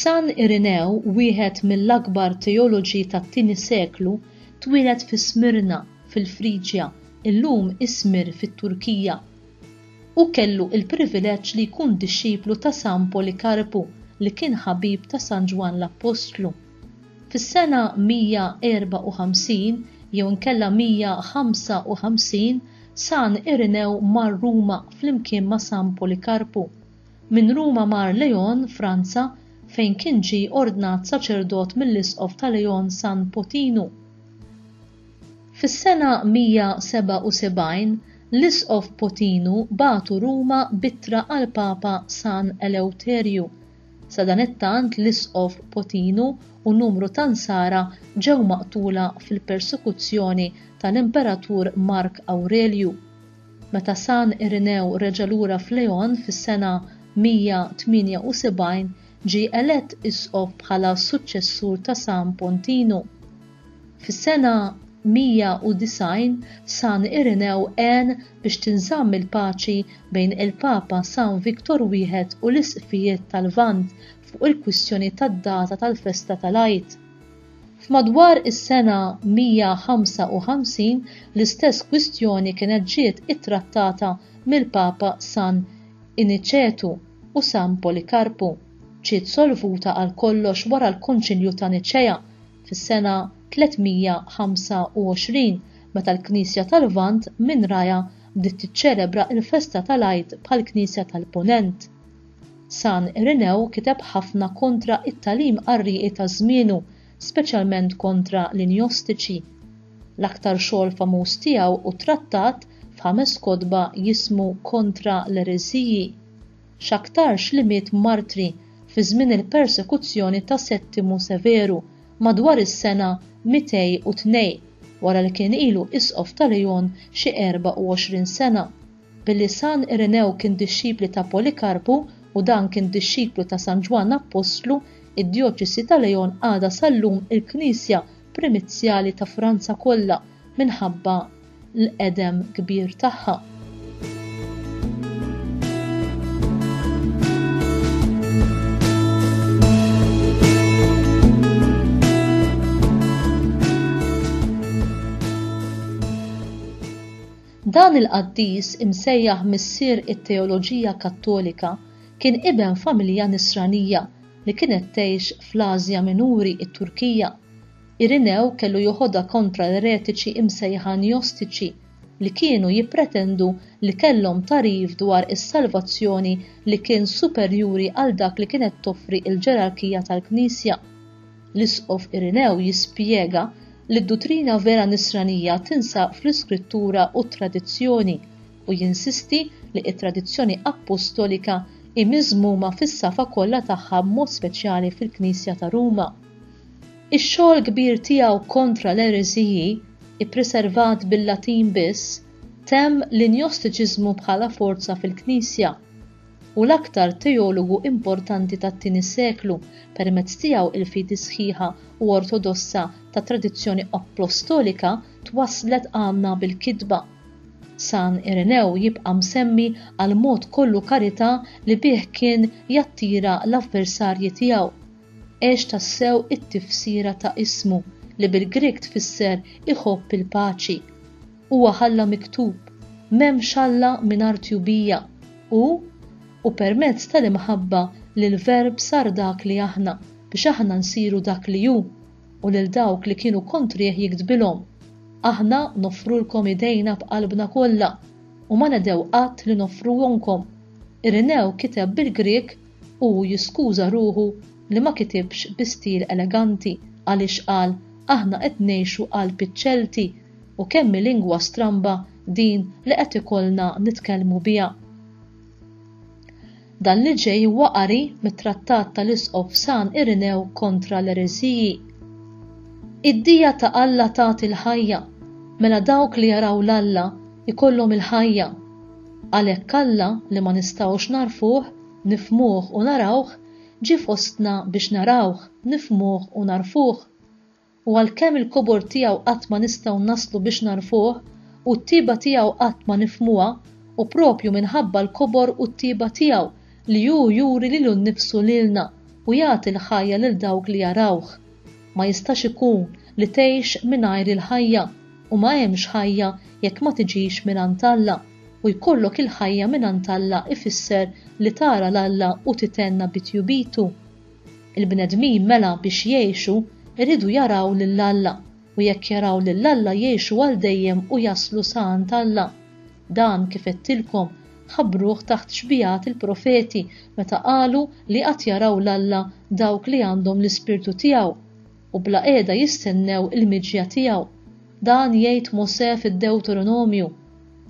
San Irinew, wieħed mill-akbar teoloġi tat-tieni seklu, twieled fi Smirna, fil-Friġja, illum Ismir fit-Turkija. Hu kellu l-privileġġ li jkun dixxiplu ta' San Polikarpu li kien ħabib ta' San Ġwann l-Appostlu. Fis-sena 154 jew inkella 155 San Irinew mar Ruma flimkien ma' San Polikarpu. Minn Ruma mar Leon, Franza, fejn kien ġie ordnat saċerdot mill-Isqof ta' Leon San Potinu. Fis-sena 177, l-Isqof Potinu bagħtu Ruma b'ittra għall-Papa San Elewterju. Sadanittant l-Isqof Potinu u numru ta' Nsara ġew maqtula fil-persekuzzjoni tal-Imperatur Mark Awrelju. Meta San Irinew reġa' lura f'Leon fis-sena 178, ġie elett isqof bħala s-suċċessur ta' San Pontinu. Fis-sena 190, San Irinew għen biex tinżamm il-paċi bejn il-Papa San Victor I u l-Isqfijiet tal-Lvant fuq il-kwistjoni tad-data tal-festa tal-Għid. F'madwar is-sena 155 l-istess kwistjoni kienet ġiet ittrattata mill-Papa San Iniċetu u San Polikarpu. Ġiet solvuta għal kollox wara l-Konċilju ta' Niċea fis-sena 325 meta l-Knisja tal-Lvant minn rajha bdiet tiċċelebra l-festa tal-Għid bħall-Knisja tal-Punent. San Irenew kiteb ħafna kontra t-tagħlim qarrieqi ta' żmienu, speċjalment kontra l-Injostiċi. L-aktar xogħol famuż tiegħu hu trattat f'ħames kotba jismu Kontra l-Ereżiji. X'aktarx li miet martri fi żmien il-persekuzzjoni ta' Settimu Severu, madwar is-sena 202, wara li kien ilu isqof ta' Leon xi 24 sena. Billi San Irenew kien dixxipli ta' Polikarpu u dan kien dixxiplu ta' San Ġwann Appostlu, id-Djoċesi ta' Leon għadha sal-lum il-knisja primizzjali ta' Franza kollha minħabba l-qedem kbir tagħha. Dan il-qaddis imsejjaħ missier it-teoloġija Kattolika kien iben familja Nisranija li kienet tgħix fl-Ażja Minuri, it-Turkija. Irinew kellu joħodha kontra l-eretiċi imsejħa Njostiċi li kienu jippretendu li kellhom tagħrif dwar is-salvazzjoni li kien superjuri għal dak li kienet toffri l-ġerarkija tal-Knisja. L-Isqof Irinew jispjega li d-duttrina vera Nisranija tinsab fl-Iskrittura u t-tradizzjoni, u jinsisti li t-tradizzjoni appostolika hi miżmuma fis-safa kollha tagħha b'mod speċjali fil-Knisja ta' Ruma. Ix-xogħol kbir tiegħu kontra l-ereżiji, ippreservat bil-Latin biss, temm l-Injostiċiżmu bħala forza fil-Knisja, Hu l-aktar teologu importanti tat-tieni seklu, permezz tiegħu l-fidi sħiħa u ortodossa tat-tradizzjoni appostolika twasslet għandna bil-kitba. San Irenew jibqa' msemmi għall-mod kollu karità li bih kien jattira l-avversarji tiegħu. Għex tassew it-tifsira ta' ismu, li bil-Grieg tfisser iħobb il-paċi. Huwa ħalla miktub, M'hemmx Alla mingħajr tjubija, u, U permezz tal-imħabba li l-Verb sar dak li aħna, biex aħna nsiru dak li hu, u lil dawk li kienu kontrih jiktbilhom, Aħna noffrulkom idejna b'qalbna kollha, u ma nedhew qatt li noffruhomkom. Irinew kiteb bil-Grieg u hu jiskuża ruħu li ma kitibx bi stil eleganti għaliex qal aħna qed ngħixu qalb iċ-Ċelti U kemm hi lingwa stramba din li qed ikollna nitkellmu biha. Dan li ġej huwa qari mit-trattat tal-Isqof San Irinew kontra l-ereżiji. Id-dija ta' Alla tagħti l-ħajja, mela dawk li jaraw 'l Alla jkollhom il-ħajja. Għalhekk Alla li ma nistgħux nagħrfuh, nifhmuh u narawh, ġie fostna biex narawh, nifhmuh u nagħrfuh. u għalkemm il-kobor tiegħu qatt ma nistgħu naslu biex nagħrfuh, u t-tieba tiegħu qatt ma nifhmuha, u proprju minħabba l-kobor u t-tieba tiegħu li hu juri lilu nnifsu lilna u jagħti l-ħajja lil dawk li jarawh. Ma jistax ikun li tgħix mingħajr il-ħajja, u ma hemmx ħajja jekk ma tiġix mingħand Alla, u jkollok il-ħajja mingħand Alla ifisser li tara 'l Alla u titenna bi tjubitu. Il-bnedmin mela biex jgħixu jridu jaraw lil Alla, u jekk jaraw lil Alla jgħixu għal dejjem u jaslu sa għand Alla. Dan, kif għedtilkom, ħabbruh taħt xbigħat il-profeti meta qalu li għad jaraw 'l Alla dawk li għandhom l-Ispirtu tiegħu, u bla qiegħda jistennew il-miġja tiegħu. Dan jgħid Mosè fid-Dewteronomju,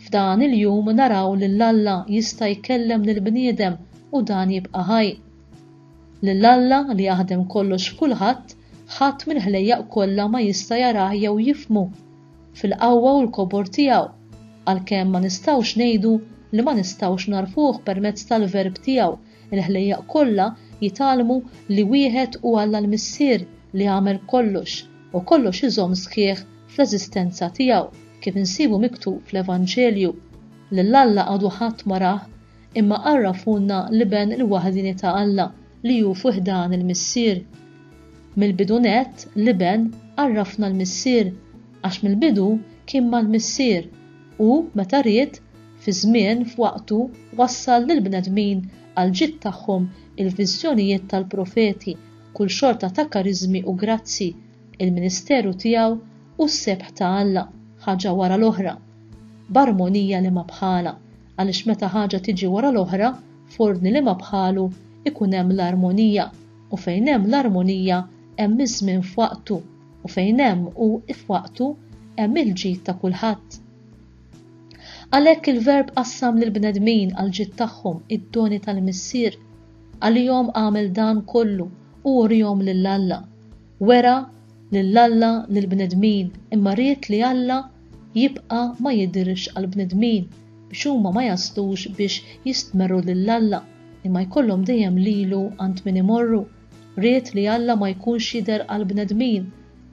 F'dan il-jum naraw lil Alla jista' jkellem lill-bniedem u dan jibqa' ħaj. Lil Alla li jaħdem kollox f'kulħadd, ħadd mill-ħlejjaq kollha ma jista' jarah jew jifhmu, fil-qawwa u l-kobor tiegħu, għalkemm ma nistgħux ngħidu li ma nistgħux nagħrfuh permezz tal-Verb tiegħu, il-ħlejjaq kollha jitgħallmu li wieħed hu Alla l-Missier li għamel kollox, u kollox iżomm sħiħ fl-eżistenza tiegħu, kif insibu miktub fl-Evanġelju. Lil Alla għadu ħadd ma rah, imma għarrafulna l-Iben il-waħdieni ta' Alla li hu fi ħdan il-Missier. Mill-bidu nett, l-Iben għarrafna l-Missier, għax mill-bidu kien mal-Missier u, meta ried, fi żmien, f'waqtu, wassal lill-bnedmin għall-ġid tagħhom il-viżjonijiet tal-profeti, kull xorta ta' kariżmi u grazzji, il-ministeru tiegħu u s-sebħ ta' Alla, ħaġa wara l-oħra, b'armonija li ma bħalha, għaliex meta ħaġa tiġi wara l-oħra f'ordni li ma bħalu ikun hemm l-armonija u fejn hemm l-armonija hemm iż-żmien f'waqtu u fejn hemm u f'waqtu hemm il-ġid ta' kulħadd. Għalhekk il-Verb qassam lill-bnedmin għall-ġid tagħhom id-doni tal-Missier. Għalihom għamel dan kollu u urihom lil Alla. Wera lil Alla lill-bnedmin imma ried li Alla jibqa' ma jidhirx għall-bnedmin biex huma ma jaslux biex jistmerru lil Alla imma jkollhom dejjem lilu għand min imorru. Ried li Alla ma jkunx jidher għall-bnedmin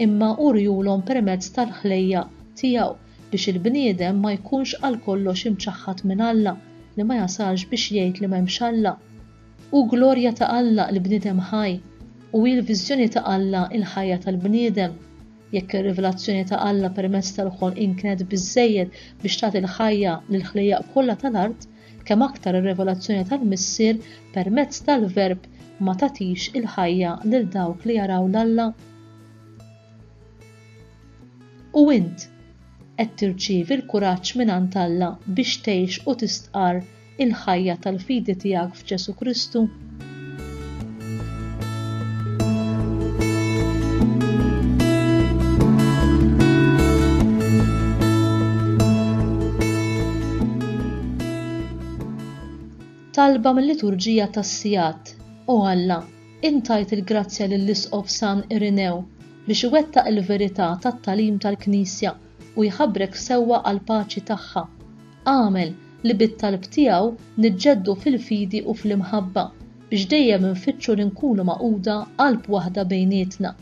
imma uriehulhom permezz tal-ħlejja' tiegħu biex il-bniedem ma jkunx għalkollox imċaħħad minn Alla li ma jasalx biex jgħid li m'hemmx Alla. Hu glorja ta' Alla l-bniedem ħaj u hi l-viżjoni ta' Alla l-ħajja tal-bniedem. Jekk ir-rivelazzjoni ta' Alla permezz tal-ħolqien kienet biżżejjed biex tagħti l-ħajja lill-ħlejjaq kollha tal-art, kemm aktar ir-rivelazzjoni tal-Missier permezz tal-Verb ma tagħtix il-ħajja lil dawk li jaraw 'l Alla? U int, qed tirċievi l-kuraġġ mingħand Alla biex tgħix u tistqarr il-ħajja tal-fidi tiegħek f'Ġesù Kristu? talba mill-liturġija tas-sigħat. O Alla, intajt il-grazzja lill-Isqof San Irinew biex iwettaq il-verità tat-talim tal-Knisja u jħabbrek sewwa għall-paċi tagħha. Agħmel li bit-talb tiegħu niġġeddu fil-fidi u fl-imħabba, biex dejjem infittxu li nkunu magħquda qalb waħda bejnietna.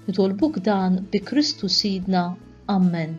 Nitolbuk dan bi Kristu Sidna. Ammen.